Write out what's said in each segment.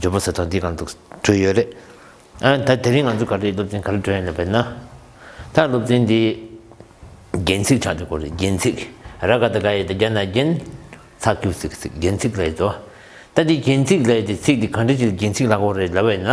ཇོ་བོ་ཟེར་ཐོག་འདི་གང་འདུག་བྲོས་ཡོད་རེད། ཨ་ད་དེ་རིང་ང་ཚོ་ག་རེ་སློབ་ཚན་ག་རེ་བྲོས་ཡོད་ན་དཔེར་ན། ད་སློབ་ཚན་འདི། རྒྱན་ཚིག་ཆགས་འདུག་གོ་རེ་རྒྱན་ཚིག་ར་ག་ད་ག་ཡོད་ད་རྒྱ་ན་རྒྱན། ཚགས་ཀྱུ་ཚིག་ཚིག་རྒྱན་ཚིག་ལ་ཡོད་དོ། ད་འདི་རྒྱན་ཚིག་ལ་ཡོད་དེ་ཚིག་འདི་ག་འདྲ་ཅིག་རྒྱན་ཚིག་ལ་གོ་རེ་ལབ་ཡོད་ན།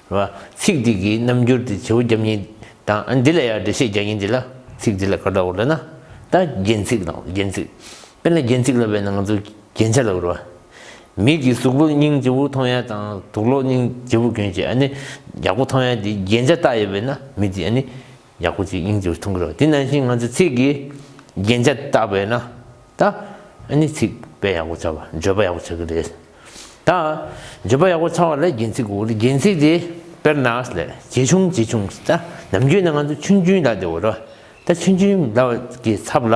བ། ཚིག་འདི་གི་རྣམ་འགྱུར་དེ་བྱེའུ་རྒྱབ་གཉིས་དང་འདི་ལ་ཡང་འགྲེལ་བཤད་རྒྱག་ཉིན་འདི་ལ་ཚིག་འདི་ལ་ག་འདྲ་བོ་ལབ་ན། ད་རྒྱན་ཚིག་དང་རྒྱན་ཚིག། དཔེར་ན་རྒྱན་ཚིག་ལབ་པའི་ནང་དུ་རྒྱན་ཆ་ལ་བོར་བ། མིག་གིས་གཟུགས་པོ་སྙིང་རྗེ་བོ་མཐོང་ཡ་དང་དུག་ལོག་སྙིང་རྗེ་བོ་གྱོན་བྱེད་ཨ་ནི་ཡག་པོ་མཐོང་ཡ་དེ་རྒྱན་ཆ་བཏགས་ཡོད་པས་ན་མི་དེ་ཨ་ནི་ཡག་པོ་ཅིག་ཡིན་ཚུལ་མཐོང་གི་རེད་དེ་ནང་བཞིན་ང་ཚོས་ཚིག་གི་རྒྱན་ཆ་བཏགས་པས་ན་ད་ནི་ཚིག་དཔེ་ཡག་པོ་ཚར་བ་བརྗོད་པ་ཡག་པོ་ཆགས་ཀྱི་རེད། ད་བརྗོད་པ་ཡག་པོ་ཚར་བ་ལ་རྒྱན་ཚིག་གོ་རྒྱན་ཚིག་དེ་དཔེར་ན་ཇེ་ཆུང་ཇེ་ཆུང་ད་ནམ་རྒྱུན་ན་ང་ཚོ་ཆུན་ཆུན་ལ་དེ་གོ་རེད་ད་ཆུན་ཆུན་ལ་གི་ཚབ་ལ་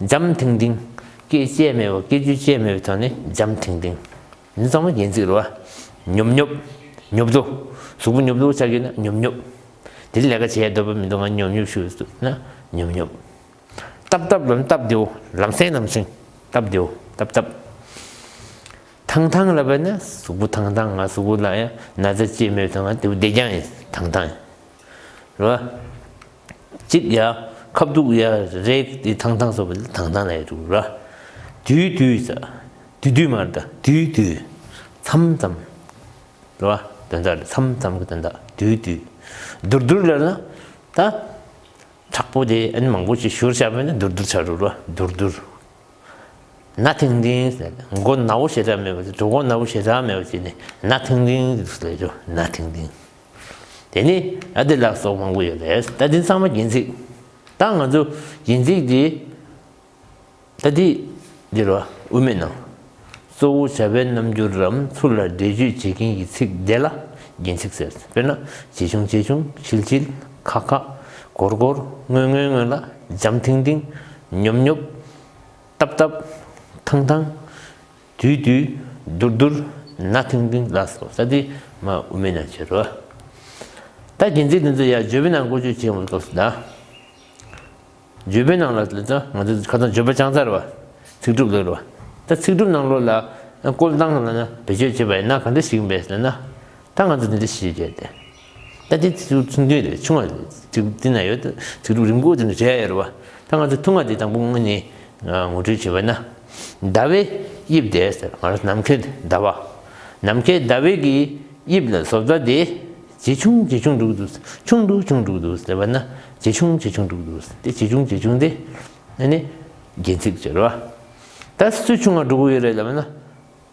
འཇམ་ཐིང་ཐིང། སྐད་བཅས་མེད་པ་སྐད་ཅིག་བཅས་མེད་པའི་དོན་ནི་འཇམ་ཐིང་ཐིང། མི་གཙང་བ་སྒལ་ཚིགས་རོ། ཉོབ་ཉོབ། ཉོབ་ཏོ། གཟུགས་པོ་ཉོབ་ཏོ་བྱ་དགོས་ན་ཉོབ་ཉོབ། དེ་རིང་ལས་ཀ་བྱེད་འདོད་པ་མི་འདུག་ང་ཉོབ་ཉོབ་ཞུ་འདུག་ན་ཉོབ་ཉོབ། སྟབས་སྟབས་ལམ་སྟབས་བདེའོ་ལམ་སེང་ལམ་སེང། སྟབས་བདེའོ་སྟབས་སྟབས། ཐང་ཐང་ལབ་པ་ནི་གཟུགས་པོ་ཐང་ཐང་ང་གཟུགས་པོ་ལ་ཡང་ན་ཚ་བཅས་མེད་པའི་དོན་ང་དེ་བོ་བདེ་རྒྱང་ཡིན་ཐང་ཐང་ཡིན། རོ། གཅིག་ཡ། ཁ་བདུག་ཡ། རེག་ཏི་ཐང་ཐང་སོགས་པའི་ཐང་ཐང་ལ་ཡ་དྲུག་ར། དུས་དུས་ས། དུས་དུས་མར་ད། དུས་དུས། མཚམས་མཚམས། རེད་བ། དོན་དག་རེད་མཚམས་མཚམས་ཀྱི་དོན་དག་དུས་དུས། དུར་དུར་ལ་ལ། ད། དྲག་པོ་དེ་ཨ་ནི་མང་པོ་ཞིག་ཞུར་བྱ་བས་ན་དུར་དུར་བྱ་རུ་ར་དུར་དུར། ན་ཐིང་ཐིང་ཟེར་ན་མགོ་ན་བོ་ཞེ་དྲག་མེད་པ་དེ་གྲོགས་མགོ་ན་བོ་ཞེ་དྲག་མེད་པ་བྱས་ནས་ན་ཐིང་ཐིང་ཟེར་ལས་བྱུང་ན་ཐིང་ཐིང། དེ་ནི་ཨ་དེ་ལགས་སོགས་མང་པོ་ཡོད་རེད་ད་དེ་ཚང་མ་གྱེན་ཚིག་ད་ང་ཚོ་གྱེན་ཚིག་དེ་ད་དེ་འདིར་བ་དབུ་མེད་ནང་གཙོ་བོ་བྱ་བའི་རྣམ་འགྱུར་རམ་ཚུར་ལ་འགྲེལ་བརྗོད་བྱེད་མཁན་གྱི་ཚིག་དེ་ལ་གྱེན་ཚིག་ཟེར་དཔེར་ན་ཇེ་ཆུང་ཇེ་ཆུང་ཆིལ་ཆིལ་ཁ་ཁ་གོར་གོར་སྔོན་སྔོན་སྔོན་ལ་འཇམ་ཐིང་ཐིང་ཉོབ་ཉོབ་རྟབ་རྟབ་ཐང་ཐང་དུས་དུས། དུར་དུར། ནག་ཐིང་ཐིང་ལ་སོགས་ས་དེའི་མ་དབུ་མའི་ནང་ཕྱིར་རོ། ད་གིན་ཚིག་འདི་ཚོ་ཡང་ཇོ་བོའི་ནང་བཀོལ་སྤྱོད་བྱེད་འོང་བའི་སྐབས་སུ་གདའ། ཇོ་བོའི་ནང་ལ་ལེ་ཚོ་ང་ཚོ་ཁ་ཚང་ཇོ་བོ་བྱང་ཚར་བ། ཚིག་གྲུབ་ལོད་རོ། ད་ཚིག་གྲུབ་ནང་ལོད་ལ་བཀོལ་སྟངས་ལ་ན་བེད་སྤྱོད་བྱེད་པ་ཡིན་ན་ག་འདྲ་ཞིག་ཡིན་པས་ཟེར་ན། ད་ང་ཚོ་འདི་འདྲ་ཞིག་བྱས་ཏེ། ད་ལྟའི་དུས་སུ་ཚོང་འདུས་དེ་ཆུང་བ་དུས་དེ་ན་ཡོད་དུས་རབས་རིམ་དགུ་དེ་ནས་བྲལ་ཡོད་རེད་བ། ད་ང་ཚོས་ཐུགས་མངའ་དེ་དང་པོ་ངོས་ནས་ངོ་སྤྲོད་བྱེད་པ་ན། ཟླ་བའི་དབྱིབས་དེ་ཟེར་ང་རང་ནམ་མཁའི་ཟླ་བ། ནམ་མཁའི་ཟླ་བའི་གི་དབྱིབས་ལ་བཟོ་ལྟ་དེ་ཇེ་ཆུང་ཇེ་ཆུང་འགྲོ་གི་འདུག་ཆུང་འགྲོ་ཆུང་འགྲོ་གི་འདུག་ཟེར་བ་ན་ཇེ་ཆུང་ཇེ་ཆུང་འགྲོ་གི་འདུག་དེ་ཇེ་ཆུང་ཇེ་ཆུང་དེ་ནི་རྒྱན་ཚིག་ཟེར་བ། ད་སུས་ཆུང་བ་འགྲོ་གི་ཡོད་རེད་ལབ་ན།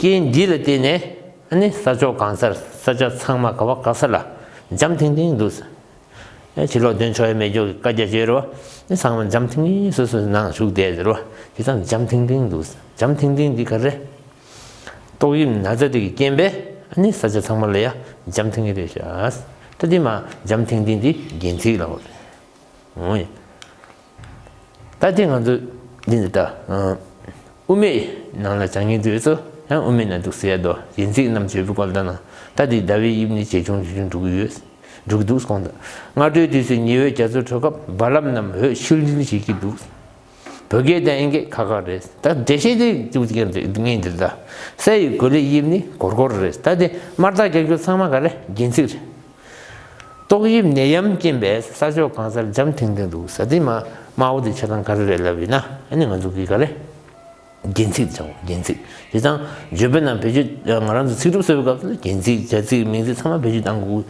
རྐྱེན་འདི་ལ་བརྟེན་ནས་ནི་ས་ཕྱོགས་གང་སར་ས་ཆ་ཚང་མ་ག་བ་ག་ས་ལ་འཇམ་ཐིང་ཐིང་འདུག། ཕྱིར་ལོག་དོན་ཆོ་ཡི་མེ་སྒྱོགས་ཀྱི་བཀའ་རྒྱ་བརྗོད་རོ། ཚང་མ་འཇམ་ཐིང་ཐིང་སོ་སོའི་ནང་བཞུགས་བསྡད་ཟེར་རོ། དེ་དག་འཇམ་ཐིང་ཐིང་འདུག་འཇམ་ཐིང་ཐིང་འདི་ག་རེ། ཏོག་དབྱིབས་ན་ཚ་དེ་གི་རྐྱེན་པས་ནི་ས་ཆ་ཚང་མ་ལ་ཡ་འཇམ་ཐིང་ཐིང་རེད་ཤག། ད་དེ་མ་འཇམ་ཐིང་ཐིང་འདི་རྒྱན་ཚིག་ལ། ད་དེ་ང་ཚོ་འདི་འདི་ལྟ། དབུ་མའི་ནང་ལ་བྱ་ངན་དུ་ཡོད་ཚོ་ཡང་དབུ་མའི་ནང་འདུག་ཟེར་ཡ་དོ་ཡིན་ཚིག་རྣམས་བརྗོད་པའི་སྐོར་ལྟ་ན་ད་དེའི་ཟླ་བའི་དབྱིབས་ནི་ཇེ་ཆུང་ཇེ་ཆུང་འགྲོ་གི་ཡོད། འགྲོ་གི་འདུག་གོང་ད་སྔ་དྲོའི་དུས་སུ་ཉི་འོད་རྒྱ་མཚོ་འཕྲོ་སྐབས་རྦ་རླབས་རྣམས་འོད་ཤུལ་འཛིན་བྱེད་ཀྱི་འདུག་བོད་སྐད་དང་ཨིན་སྐད་ཁ་ཁ་རེད་ད་འགྲེལ་བཤད་དེ་ཅུང་ཙིག་ངས་འདི་ལྟ། ས་ཡི་གོ་ལའི་དབྱིབས་ནི་གོར་གོར་རེད་ད་དེ་དམར་རྟགས་རྒྱག་རྒྱུ་ཚང་མ་ག་རེ་རྒྱན་ཚིག་རེད། ཏོག་དབྱིབས་ནད་ཡམས་རྐྱེན་པས་ས་ཕྱོགས་གང་སར་འཇམ་ཐིང་ཐིང་འདུག་ས་སྟེང་མ་དམར་བོ་དེ་ཆ་ཚང་ག་རེ་རེད་ལབ་ཡོད་ན་ཨ་ནི་ང་ཚོ་གིས་ག་རེ། རྒྱན་ཚིག་བྱ་འོང་རྒྱན་ཚིག་དེ་ཚང་བརྗོད་པ་རྣམས་བེད་སྤྱོད་ང་རང་ཚོ་ཚིག་གྲུབ་གསོལ་བའི་སྐབས་སུ་རྒྱན་ཚིག་བྱ་ཚིག་མིང་ཚིག་ཚང་མ་བེད་སྤྱོད་བཏང་དགོས་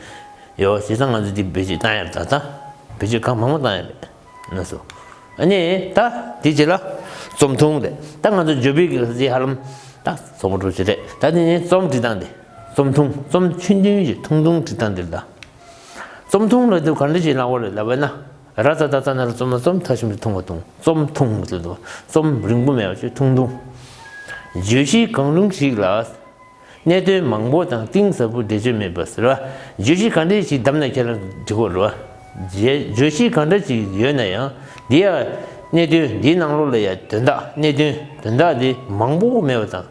ཀྱི་ཡོད་དེ་ཚང་ང་ཚོས་འདི་བེད་སྤྱོད་བཏང་ཡ་ད་ལྟ་བེད་སྤྱོད་གང་མང་མང་བཏང་ཡ་མེད་ན་སོ་ཨ་ནི་ད་འདི་བྱེད་ལ་རྩོམ་ཐུང་རེད་ད་ང་ཚོ་འཇོ་སྦིས་ཀྱི་ལ་རྩེ་ཧ་ལམ་ད་རྩོམ་པོ་གྲོ་ཆུ་རེད་ད་འདི་ནས་རྩོམ་བྲིས་སྟངས་འདི། རྩོམ་ཐུང་རྩོམ་ཆུང་དོན་གྱི་ཐུང་ཐུང་བྲིས་སྟངས་འདིར་གདའ། རྩོམ་ཐུང་ལ་དུས་ག་འདྲ་ཞིག་ལངས་བ་རེད་ལབ་པ་ན། ར་རྩ་རྡ་རྩ་ནར་རྩོམ་ན་རྩོམ་མཐའ་ཞིམ་པོ་ཐུང་བ་ཐུང་རྩོམ་ཐུང་ཟེར་དུས་རྩོམ་རིང་པོ་མེད་པ་ཆུ་ཐུང་ཐུང། བརྗོད་གཞི་གང་རུང་ཞིག་ལ་གནད་དོན་མང་པོ་དང་གཏིང་ཟབ་པོ་འགྲེལ་བརྗོད་མེད་པ་ཟེར་བ་བརྗོད་གཞི་ག་འདྲའི་ཞིག་བདམས་ན་ཁྱེད་རང་འབྲི་གོ་རུ། བརྗོད་གཞི་ག་འདྲ་ཞིག་ཡོད་ན་ཡང་འདི་ཡང་གནད་དོན་འདིའི་ནང་ལོགས་ལ་ཡང་དོན་དག་གནད་དོན་དོན་དག་འདི་མང་པོ་མེད་པ་དང།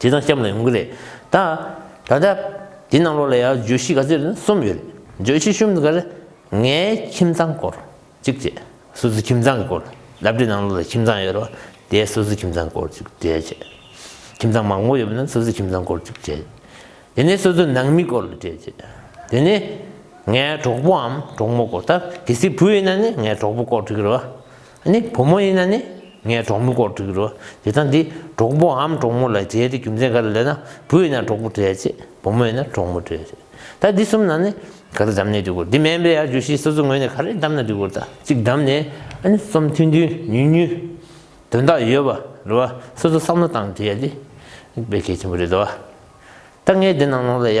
དེ་དང་སྐྱབས་ལ་ཡོང་གི་རེད་ད། ད་ལྟ་དེ་རྣམས་ལོགས་ལ་ཡང་བརྗོད་གཞི་ག་ཚོད་རེད་ན་གསུམ་ཡོད་རེད། བརྗོད་གཞི་གསུམ་དེ་ག་རེད། ངའི་ཁྱིམ་ཚང་སྐོར་གཅིག་བཅས་སོ་སོའི་ཁྱིམ་ཚང་གི་སྐོར། ལབ་རྡོའི་ནང་ལོགས་ལ་ཁྱིམ་ཚང་ཡོད་རེད་བ། དེ་སོ་སོའི་ཁྱིམ་ཚང་སྐོར་གཅིག་བཅས་བྱས། ཁྱིམ་ཚང་མང་པོ་ཡོད་པ་ན་སོ་སོའི་ཁྱིམ་ཚང་སྐོར་གཅིག་བྱས། དེ་ནས་སོ་སོའི་ནང་མི་སྐོར་ལ་བཅས་བྱས། དེ་ནས་ངའི་གྲོགས་པོའམ་གྲོགས་མོ་སྐོར་ད་གལ་སྲིད་བུ་ཡོད་ན་ནི་ངའི་གྲོགས་པོ་སྐོར་བྲི་གི་རེད་བ། ནི་བུ་མོ་ཡིན་ན་ནི་ངའི་གྲོགས་མོ་སྐོར་བསྒྲིགས་རོགས་དེ་དང་དེ་གྲོགས་པོ་འམ་གྲོགས་མོ་ལ་མཇལ་ཏེ་རྒྱུ་མཚན་ག་རེ་ལས་ན་བུ་ཡིན་ན་གྲོགས་པོ་བྲལ་ཆེད་བུ་མོ་ཡིན་ན་གྲོགས་མོ་བྲལ་ཆེད་ད་འདི་གསུམ་ནང་ནས་ག་རེ་བདམས་ནས་བསྡུས་སྐོར་འདི་མན་པའི་ཡར་བརྒྱུད་བཞི་སོ་སོ་ངོས་ནས་ག་རེ་བདམས་ན་བསྡུས་སྐོར་ད་གཅིག་བདམས་ནས་ཨ་ནི་རྩོམ་མཐུན་མཐུན་ཉུལ་ཉུལ་དོན་དག་ཡོད་པ་རེ་བ་སོ་སོ་བསམ་བློ་བཏང་བྲིས་ཡ་དེ་དཔེ་གལ་ཆེན་པོ་རེད་དོ། ད་ངས་འདི་ནང་ནོར་ལ་ཡ།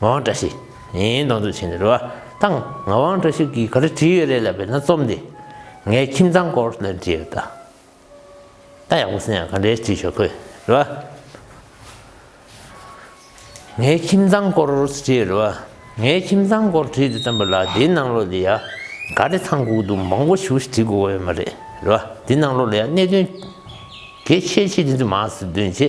ངག་དབང་བཀྲ་ཤིས་ཡིན་གདོང་ཚོད་ཆེན་རེད་རེད་བ་ཐང་ངག་དབང་བཀྲ་ཤིས་ཀྱིས་ག་རེ་བྲིས་ཡོད་རེད་ལབ་པའི་ན་རྩོམ་དེ་ངའི་ཁྱིམ་ཚང་སྐོར་ལ་བྲིས་ཡོད་ད་ད་ཡག་པོ་སེ་ཡང་ག་འདྲའི་བྲིས་ཆོག་ཁོས་རེད་བ། ངའི་ཁྱིམ་ཚང་སྐོར་བྲིས་ཡོད་རེད་བ་ངའི་ཁྱིམ་ཚང་སྐོར་བྲིས་འདུག་བསམ་པ་ལགས་འདིའི་ནང་ལོགས་ལ་ཡང་ག་རེ་ཐང་གུག་འདུག་མང་པོ་ཞུ་ཞིག་བྲིས་དགོས་ཀ་ཡོད་མ་རེད་རེད་བ་འདི་ནང་ལོགས་ལ་ཡང་གནད་དོན་གལ་ཆེ་ཆེ་འདི་ཚོ་མ་ཟིན་དོན་ཆེ།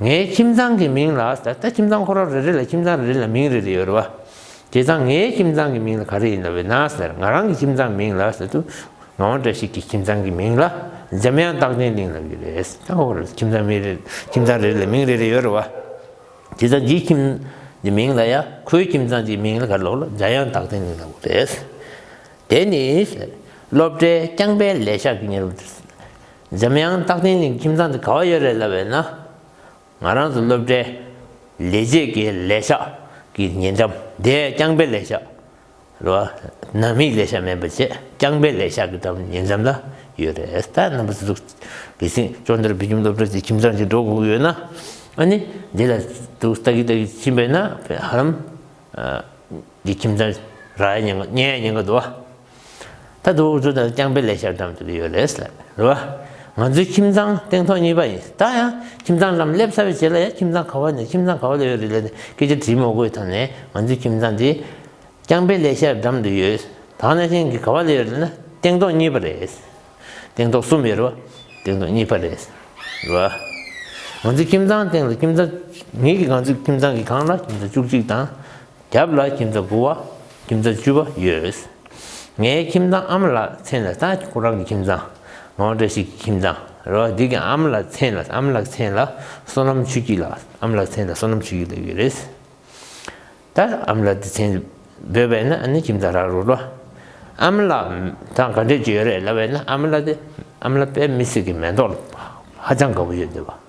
ངའི་ཁྱིམ་ཚང་གི་མིང་ལ་ད་ལྟ་ཁྱིམ་ཚང་ཁོ་ར་རེ་རེ་ལ་ཁྱིམ་ཚང་རེ་རེ་ལ་མིང་རེ་རེ་ཡོད་རེད་བ། དེ་ཚང་ངའི་ཁྱིམ་ཚང་གི་མིང་ལ་ག་རེ་ཡིན་ལ་བས་ན། ང་རང་གི་ཁྱིམ་ཚང་མིང་ལ་ད་དུང་ང་འོང་འདྲ་ཞིག་གི་ཁྱིམ་ཚང་གི་མིང་ལ་འཇམ་དབྱངས་རྟག་བརྟན་གླིང་ལབ་ཡོད་རེད། ད་ཁོ་ར་ཁྱིམ་ཚང་མིང་རེ་ཁྱིམ་ཚང་རེ་རེ་ལ་མིང་རེ་རེ་ཡོད་རེད་བ། དེ་ཚང་འདིའི་ཁྱིམ་འདི་མིང་ལ་ཡ་ཁོའི་ཁྱིམ་ཚང་འདིའི་མིང་ལ་ག་རེ་ལོག་ལ་འཇམ་དབྱངས་རྟག་བརྟན་གླིང་ལབ་དགོས་རེད། དེ་ནི། སློབ་གྲྭའི་རྐྱང་པའི་ལས་ཤག་གི་གཉེར་བ། འཇམ་དབྱངས་རྟག་བརྟན་གླིང་ཁྱིམ་ཚང་དུ་ག་བ་ཡོད་རེད་ལབ་པའི་ན། ང་རང་ཚོ་སློབ་གྲྭའི་ལས་བྱེད་ཀྱི་ལས་ཤག་གི་ཉེ་འགྲམ་དེ་རྐྱང་པའི་ལས་ཤག་རེད་བ། ནང་མིའི་ལས་ཤག་མེད་པ་བཅས་རྐྱང་པའི་ལས་ཤག་གི་འགྲམ་ཉེ་འགྲམ་ལ་ཡོད་རེད། ད་རྣམ་པ་ཚོ་ཚུགས་དེ་སྲིང་ཅོ་འདིར་བོད་ཁྱིམ་སློབ་གྲྭ་དེ་ཁྱིམ་ཚང་དེ་འགྲོ་དགོས་ཡོད་ན། ཨ་ནི་འདི་ལ་དུ་ལྟ་གི་ལྟ་གི་ཕྱིན་པས་ན་ཧ་རམ། འདི་ཁྱིམ་ཚང་ར་ཡ་ཉེ་ག་ཉེ་ཡ་ཉེ་ག་འདུག་བ། ད་དུ་འུ་ཚོ་དང་རྐྱང་པའི་ལས་ཤར་གྲམ་དུ་ཡོད་རེད་ཟེར་རེད་བ། ང་ཚོའི་ཁྱིམ་ཚང་སྟེང་ཐོག་གཉིས་པ་ཡིན། ད་ཡང་ཁྱིམ་ཚང་ལམ་སླེབས་ཚར་བའི་རྗེས་ལ་ཡང་ཁྱིམ་ཚང་ག་བ་ནས་ཁྱིམ་ཚང་ག་བ་ལ་ཡོད་རེད་ལབ་ནས་སྐད་ཆ་དྲིས་མ་དགོས་ཐ་ན་ང་ཚོའི་ཁྱིམ་ཚང་དེ་རྐྱང་པའི་ལས་ཤར་གྲམ་དུ་ཡོད། ད་ནང་བཞིན་གྱི་ག་བ་ལ་ཡོད་རེད་ན་སྟེང་ཐོག་གཉིས་པ་རེད། སྟེང་ཐོག་གསུམ་ཡོད་རེད་བ། སྟེང་ཐོག་གཉིས་པ་རེད་ཟེར་རེད་བ། ང་ཚོའི་ཁྱིམ་ཚང་སྟེང་ལ་ཁྱིམ་ཚང་ངེད་ཀྱི་ང་ཚོའི་ཁྱིམ་ཚང་གི་གང་ལ་ཁྱིམ་ཚང་བཅུ་གཅིག་དང། རྒྱབ་ལ་ཁྱིམ་བཟའ་དགུ་བ་ཁྱིམ་བཟའ་བཅུ་བ་ཡོད། ངའི་ཁྱིམ་ཚང་ཨམ་ལ་མཚན་ལ་སྟག་གི་ཁོ་རང་གི་ཁྱིམ་ཚང། ངོ་འདྲ་ཞིག་གི་ཁྱིམ་ཚང་རེད་བ་འདི་གི་ཨམ་ལ་མཚན་ལ་ཨམ་ལག་མཚན་ལ་སོ་ནམ་ཆུ་སྐྱིད་ལགས་ཨམ་ལག་མཚན་ལ་སོ་ནམ་ཆུ་སྐྱིད་ལགས་ཡོད་རེད། ད་ཨམ་ལག་འདི་མཚན་འབོད་པས་ན་ཨ་ནི་ཁྱིམ་ཚང་རག་རུ་རོ། ཨམ་ལག་དང་ག་འདྲས་ཀྱི་ཡོད་རེད་ལབ་བས་ན་ཨམ་ལག་དེ་ཨམ་ལག་པས་མི་སེར་གི་མེ་ཏོག་ཧ་ཅང་དགའ་བོ་ཡོད་འདོད་བ།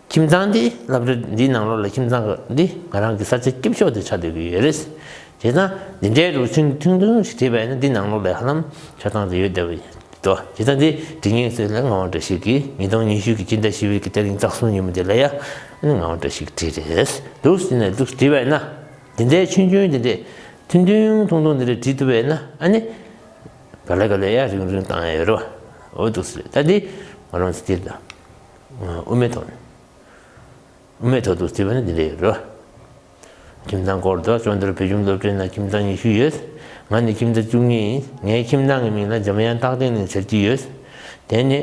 ཁྱིམ་ཚང་དེའི་བསླབ་བྱ་འདིའི་ནང་ལོགས་ལ་ཁྱིམ་ཚང་ཁག་འདི་ང་རང་གི་ས་ཆ་སྐྱིབས་ཤོག་དེ་ཆགས་སྡོད་ཀྱི་ཡོད་རེད། དེས་ན་འདི་འདྲའི་རུ་ཆུང་ཐུང་ཐུང་ཞིག་བྲིས་པ་ཡིན་ན་འདི་ནང་ལོགས་ལས་ཧ་ལམ་ཆགས་སྟངས་དེ་ཡོད་བསྡད་པ་ཡིན་འདུག་དེ་ལྟ་འདི་འབྲི་ངེས་ཚོད་ལས་ངག་དབང་བཀྲ་ཤིས་ཀྱིས་ཉིས་སྟོང་ཉི་ཤུ་ཀྱི་སྤྱི་ཟླ་བཞི་བའི་གི་སྟེ་རིང་སྟག་སུམ་ཉིན་མོ་དེ་ལ་ཡ་ནི་ངག་དབང་བཀྲ་ཤིས་ཀྱིས་བྲིས་རེད་འདུག་ཟེར་ནས་འདུག་བྲིས་པ་ཡིན་ན་འདི་འདྲའི་ཆུང་ཆུང་འདི་འདྲའི་ཐུང་ཐུང་ཐུང་ཐུང་འདི་འདྲ་བྲིས་ཐུབ་པ་ཡིན་ན་ཨ་ནི་ག་ལེ་ག་ལེ་ཡ་རིང་རིང་བཏང་ཡོད་རོ་འོ་འདུག་ཟེར་ད་འདི་ང་རང་ཚོ་དེ་ལྟ་དབུ་མའི་ཐོག་ནས་དབུ་མའི་ཐོག་ཏུ་བརྩི་བ་ནི་འདི་འདྲ་ཡོད་རེད། ཁྱིམ་ཚང་སྐོར་དུ་ཅོ་འདྲི་བོད་གཞུང་སློབ་གྲྭའི་ནང་ཁྱིམ་ཚང་ཉི་ཤུ་ཡོད། ང་ནི་ཁྱིམ་ཚང་བཅུ་གཉིས་ཡིན། ངའི་ཁྱིམ་ཚང་གི་མིང་ལ་འཇམ་དབྱངས་རྟག་བརྟན་གླིང་ཟེར་གྱི་ཡོད། དེ་ནི་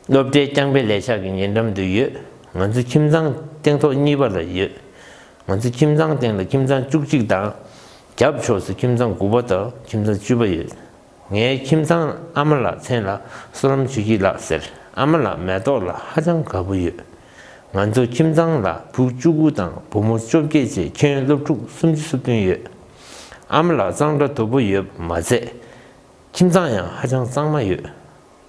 སློབ་གྲྭའི་རྐྱང་པའི་ལས་ཤག་གི་ཉེ་འགྲམ་དུ་ཡོད། ང་ཚོའི་ཁྱིམ་ཚང་སྟེང་ཐོག་གཉིས་པ་ལ་ཡོད། ང་ཚོའི་ཁྱིམ་ཚང་སྟེང་ལ་ཁྱིམ་ཚང་བཅུ་གཅིག་དང། རྒྱབ་ཕྱོགས་སུ་ཁྱིམ་ཚང་དགུ་པ་དང་ཁྱིམ་ཚང་བཅུ་པ་ཡོད། ངའི་ཁྱིམ་ཚང་ཨ་མ་ལགས་མཚན་ལ་བསོད་ནམས་ཆོས་སྐྱིད་ལགས་ཟེར་ཨ་མ་ལགས་མེ་ཏོག་ལ་ཧ་ཅང་དགའ་པོ་ཡོད། ང་ཚོ་ཁྱིམ་ཚང་ལ་བུ་བཅུ་དགུ་དང་བུ་མོ་བཅོ་བརྒྱད་བཅས་ཁྱོན་སློབ་ཕྲུག་སུམ་ཅུ་སོ་བདུན་ཡོད། ཨ་མ་ལགས་གཙང་སྦྲ་དོད་པོ་ཡོད་མ་ཚད་ཁྱིམ་ཚང་ཡང་ཧ་ཅང་གཙང་མ་ཡོད།